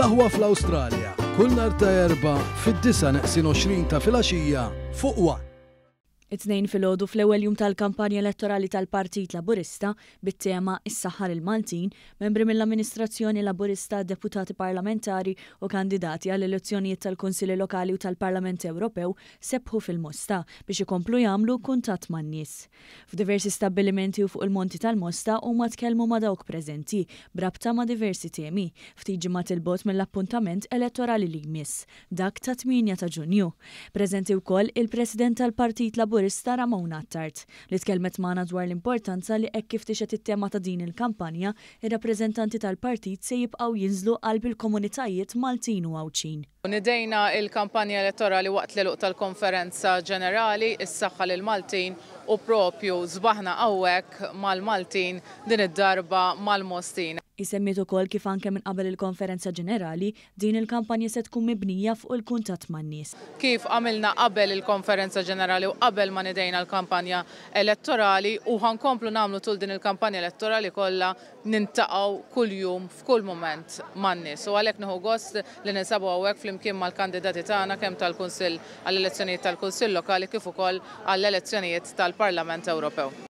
L-aħwa fl-Awstralja, kull nhar ta' Erbgħa fid-disa' neqsin għoxrin ta' filgħaxija fuq one. It-Tnejn filgħodu fl-ewwel jum tal-kampanja elettorali tal-Partit Laburista bit-tema Is-Saħħa lill-Maltin, membri mill-amministrazzjoni Laburista, deputati parlamentari u kandidati għall-elezzjonijiet tal-Kunsilli Lokali u tal-Parlament Ewropew sebħu fil-Mosta biex ikomplu jagħmlu kuntatt man-nies. F'diversi stabbilimenti u fuq il-Monti tal-Mosta huma tkellmu ma' dawk preżenti b'rabta ma' diversi temi, ftit ġimgħat 'il bogħod mill-appuntament elettorali li jmiss, dak tat-tmienja ta' Ġunju. Preżenti wkoll il-President tal-Partit Laburista Ramona Attard, li tkellmet magħna dwar l-importanza li hekk kif tixhed it-tema ta' din il-kampanja Ir-rappreżentanti tal-partit se jibqgħu jinżlu qalb il-komunitajiet Maltin u Għawdxin. Nidejna l-kampanja elettorali waqt l-għeluq tal-konferenza ġenerali, is-saħħa lill-Maltin, u proprju sbaħna hawnhekk mal-Maltin, din id-darba mal-Mostin. Hi semmiet ukoll kif anke minn qabel il-konferenza ġenerali, Din il-kampanja se tkun mibnija fuq il-kuntatt man-nies. Kif għamilna qabel il-Konferenza Ġenerali u qabel ma nedejna l-kampanja elettorali u ħa nkomplu nagħmlu tul din il-kampanja elettorali kollha niltaqgħu kuljum f'kull mument man-nies u għalhekk nieħu gost li ninsabu hawnhekk flimkien mal-kandidati tagħna kemm tal-Kunsill għall-elezzjonijiet tal-Kunsill Lokali kif ukoll għall-elezzjonijiet tal-Parlament Ewropew.